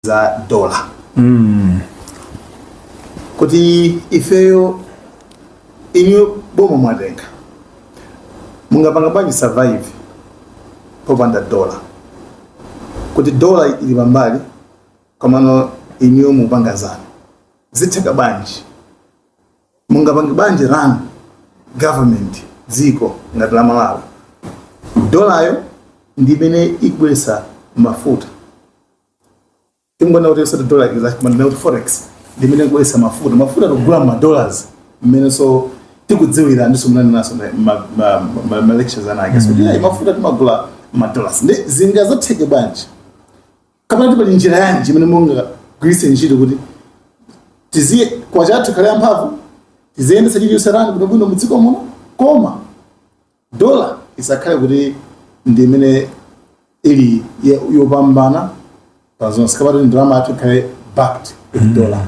za dola kuti ifeyo inuyo boma mwatenga mungapanga bwanji survive popanda dola kuti dola ili pambali komano inuyo mupanga zanu zitheka bwanji mungapange bwanji run government dziko ngati la malawi dolayo ndi imene ikubweretsa mafuta tingoona kuti osati dollar ikiza kumanena kuti forex ndimene ikubweretsa mafuta mafuta tikugula ma dollars mmenenso tikudziwira ndiso munanenanso ma lectures anake so tiyayi mafuta timagula ma dollars ndi zingazatheke bwanji kapena tipali njira yanji imene mungagwiritse ntchito kuti tiziye kwacha yathu ikhale yamphamvu tiziyendetsa chilichonse rani kuti bwino mudziko muno koma dola isakhale kuti ndi imene ili ye- yopambana pa zonse kapena ndalama yathu ikhale backed with dollar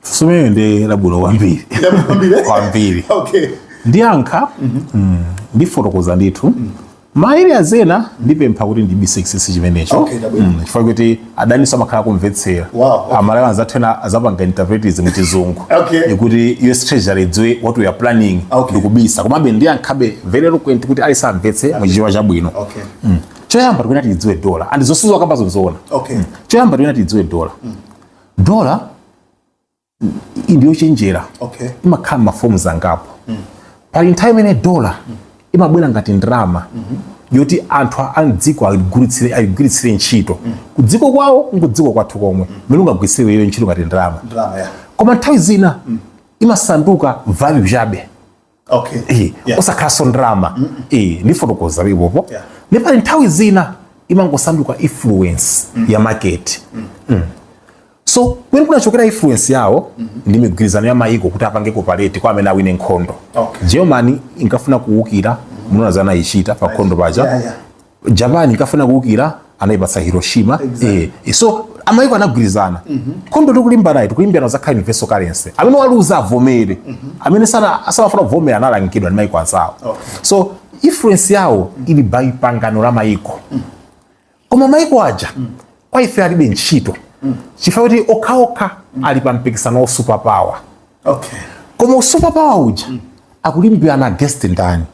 sumene ndi labwino kwambiri Kwambiri? kwambiri okay ndiyankha mm, ndifotokoza ndithu ma areas ena ndipempha kuti ndibise chinsinsi chimenecho Okay, chabwino. Mm, chifukwa kuti adaninso amakhala akumvetsera wow, okay. amalawi anzathu ena azapanga interpret izi mu chizungu okay. kuti us treasury idziwe what we are planning okay. ndikubisa komabe ndiyankhabe very eloquent kuti aliyense amvetse okay. muchichewa chabwino okay. mm. choyamba tikuyena tiidziwe dola and zosizwa kamba zonzoona okay. mm. choyamba tikuyena tiidziwe dola mm. dola ndiyochenjera okay. imakhala ma forms angapo mm. pali nthawi imene dola mm. imabwera ngati ndalama mm -hmm. yoti anthu a mdziko ayigwiritsire ntchito mm. kudziko kwawo nkudziko kwathu komwe mm. mmene ungagwiritsire iyo ntchito ngati ndalama yeah. koma nthawi zina mm. imasanduka value chabe okay. Eh, yeah. osakhalanso ndalama mm -mm. eh, ndifotokoza ipopo yeah. nde pali nthawi zina imangosanduka influence mm. ya market mm. Mm. so kumene kunachokera influence yawo mm -hmm. ndi migwirizano ya mayiko kuti apange cooperate kwa amene awine nkhondo okay. germany inkafuna kuwukira mm -hmm. munaona zanayichita pa nkhondo paja yeah, yeah. japan inkafuna kuukira anaipatsa hiroshima exactly. e, so maiko anagwirizana mm -hmm. nkhondo tikulimbanayi tikulimbirana zakhala universal currency amene waluza avomere mm -hmm. amene samafuna kuvomera analangidwa ndi maiko anzawo okay. so influence yawo mm -hmm. ili by pangano la maiko mm -hmm. koma maiko aja mm -hmm. kwa ife alibe ntchito mm -hmm. chifukwa kuti okhaokha mm -hmm. ali pa mpikisano wa super power okay. koma super power uja mm -hmm. akulimbirana against ndani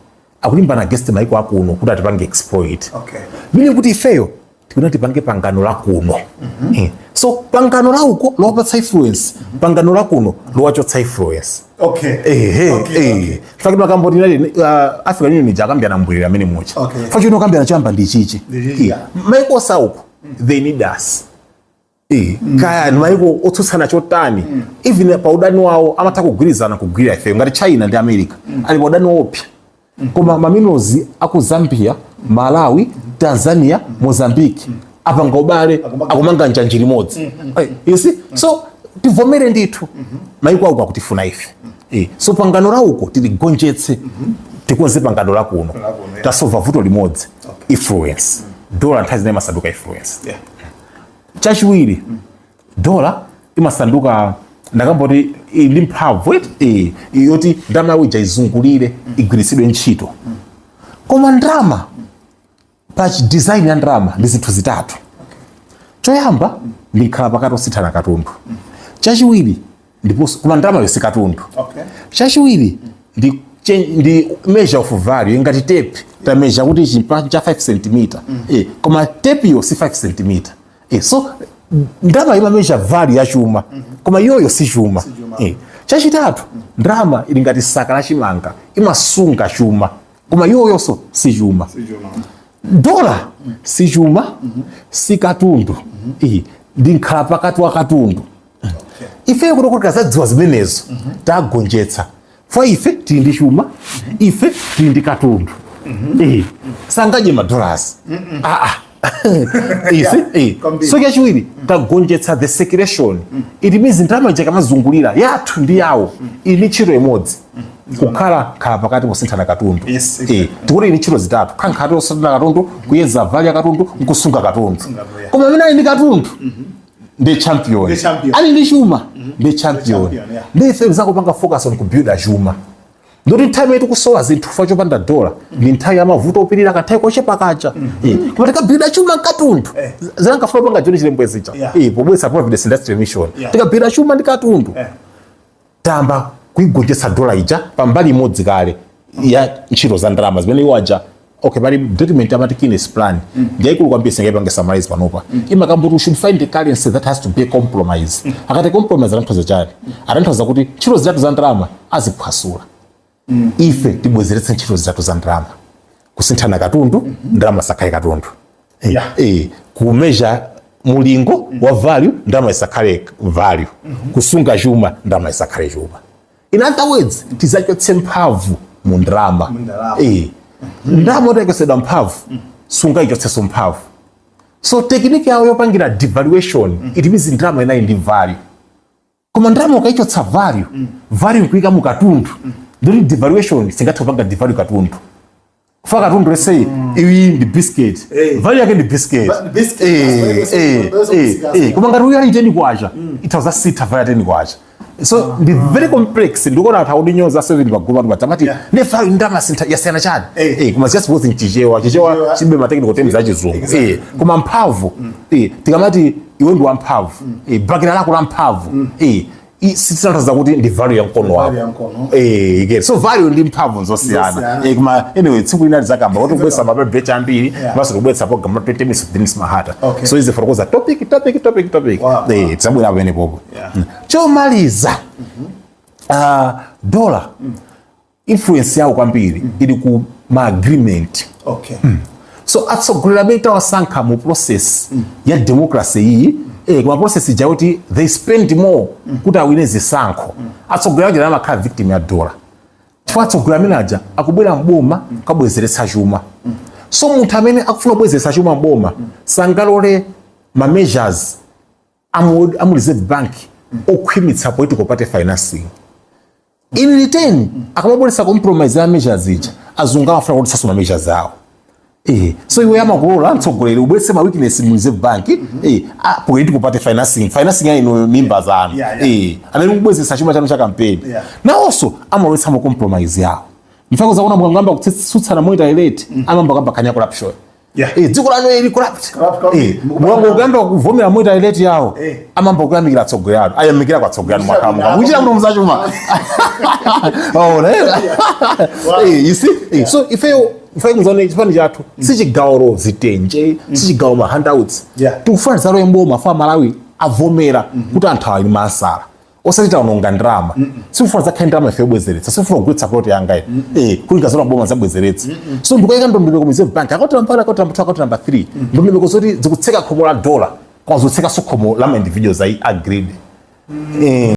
akulimbana against maiko akuno kuti atipange exploit okay. meaning kuti ifeyo tikuyena tipange pangano la kuno mm -hmm. so pangano la uko lowapatsa influence mm -hmm. pangano la kuno lowachotsa influence okay. eh, eh, okay, eh. Okay. faki makambo tinali uh, africa union ija akambirana mbwerera mmenemuja okay. faki ino akambirana chamba ndi chichi yeah. maikonso auko mm -hmm. they need us Eh, kaya maiko otsutsana chotani mm. even pa udani wawo amatha kugwirizana kugwira ifeyo ngati china ndi america mm. ali pa udani wopsa mm. koma ma minerals aku zambia malawi tanzania mozambique apanga ubale akumanga njanji limodzi eh, you see so tivomere ndithu mm-hmm. maiko auko akutifuna ife eh, so pangano la uko tiligonjetse mm-hmm. tikonze pangano la kuno tasolva vuto limodzi influence dola nthawi zina imasanduka influence yeah. chachiwiri dola imasanduka ndakamba kuti ili ndi mphamvu eti eh, yoti ndalama yawo ija izungulire igwiritsidwe ntchito koma ndalama pa chi- design ya ndalama ndi zinthu zitatu choyamba ndi nkhala pakati posinthana katundu chachiwiri ndiponso koma ndalamayo si katundu okay. chachiwiri ndi ndi measure of value ngati tape measure kuti ichi ndi cha 5 cm mm. eh, koma tape yo si 5 cm eh, so ndalama ima measure value ya chuma mm -hmm. koma yoyo si chuma, si chuma. Eh, chachitatu mm. ndalama ili ngati saka la chimanga imasunga chuma koma yoyonso si chuma si chuma dola si chuma si katundu ndi nkhala pakati wa katundu ifeyo tikuti tikazadziwa zimenezo tagonjetsa fwa ife tili ndi chuma ife tili ndi katundu Eh, sangadye madollars aa isi eh. Kwambiri. so chachiwiri tagonjetsa the circulation it means ndalama ija kamazungulira yathu ndi yawo ili ndi ntchito imodzi kukhala nkhala pakati posinthana katundu Yes, exactly. Eh, tikuti ili ntchito zitatu kankhati osinthana katundu kuyeza value ya katundu nkusunga katundu Kusunga value. koma amene ali ndi katundu ndi champion Ndi champion. ali ndi chuma ndi champion champion, yeah. ndi ife zakupanga focus on kubuilda chuma ndoti nthawi imene tikusowa zinthu fa chopanda dola ndi nthawi ya mavuto opirira kanthawi kochepa kacha Eh, koma tikabuilda chuma nkatundu Eh. zinankafuna panga John Chilembwe zija Yeah. pobwesa Providence Industrial Mission Yeah. tikabuilda chuma ndi katundu Eh. tayamba kuigonjetsa dola ija pa mbali imodzi kale ya ntchito za ndalama zimene iwo aja okay pali document amati Keynes plan mm. ndi yaikulu kwambiri singaipange summarize panopa mm. imakamba kuti should find a currency that has to be a compromise mm. akati compromise amatanthauza chani amatanthauza kuti ntchito zitatu za ndalama aziphwasula mm. ife tibwezeretse ntchito zitatu za ndalama kusinthana katundu mm -hmm. ndalama isakhale katundu eh, yeah. e, eh, kumeasure mulingo mm -hmm. wa value ndalama isakhale value mm -hmm. kusunga chuma ndalama isakhale chuma in other words tizachotse mphamvu mu ndalama e, ndalama yotaitsidwa mphamvu mm -hmm. sungaichotseso mphamvu so technique yawo yopangira devaluation mm -hmm. it means ndalama inali ndi value koma ndalama ukaichotsa value mm. value kuika mu katundu mm. ndi yoti devaluation singathe kupanga devalue katundu kufa katundu let's say mm. iyi ndi biscuit hey. Eh. value yake ndi biscuit eh, eh, koma ngati uyo ali teni kwacha mm. itha kuzasintha value teni kwacha so uh, ndi uh, very complex ndikuona kuti audinyoza seveni pagoma kuti tikamati yeah. nde value ndalama zinthu zosiyana chani hey. Eh. hey, koma just both in chichewa chichewa chilibe ma technical terms achizungu exactly. hey, koma mphamvu mm. hey, tikamati iwe ndi wamphamvu eh, bakera lako la mphamvu eh, i- si- sitanthauza kuti ndi value ya mkono wako Value ya mkono. Eh, ike. so value ndi mphamvu nzosiyana Zosiyana. Eh, koma anyway tsiku lina tizakamba kuti kubwesa ma pepala ambiri Yeah. basi kubwesa program ya 20 minutes of Dennis Mahata Okay. so tizifotokoza topic topic topic topic Wow. Eh, tidzabwera pamenepopo Yeah. Mm. chomaliza ah, dola influence yawo kwambiri mm. ili ku ma agreement okay. mm. so atsogoleri amene tawasankha mu process mm. ya democracy iyi mm. eh, koma process ija kuti they spend more mm. kuti awine zisankho mm. atsogoleri aja amakhala victim ya dola chifukwa atsogoleri amenewa aja akubwera mboma mm. kukabwezeretsa chuma mm. so munthu amene akufuna kubwezeretsa chuma mboma mm. sangalole ma measures amu, amu reserve bank okhwimitsa political party financing in return akamabonesa compromise ya measures ija azungu amafuna kuti sasoma measures awo Eh, so iwe amakulola mtsogoleri ubwese ma weakness mu reserve bank eh, ah, political party financing financing ya ino mimba zanu Yeah, yeah. eh, anali kubwezesa chuma chanu cha kampeni Yeah. nawonso amalowetsa ma compromise yawo mfako zakuona mukangamba kutsutsana moita elete amamba kamba kanya corruption Yeah. Eh, dziko lanu lili corrupt. Eh, mwangoyamba kuvomera monetary rate yawo. Eh. Amayamba kuyamikira atsogoleri anu. Ayamikira kwa atsogoleri anu mwakamuka. Munjira muno muzachuma. Oh, ne. Eh, you see? Eh, so if you if you mzone chipani chathu, mm. sichigawa zitenje, mm. sichigawa ma handouts. Yeah. Tikufuna zaro yembo mafuna aMalawi avomera mm-hmm. kuti anthu ali masala. osati taononga ndalama sindikufuna zakhale ndalama ife yobwezeretsa sikufuna kugwetsa plot yanga ine eh kuti ndikazalowa boma nzabwezeretse so ndikuika ndondomeko mu reserve bank akoti nambala akoti nambala akoti nambala 3 ndondomeko zoti zikutseka khomo la dollar koma zotsekaso khomo la ma individuals ayi agreed eh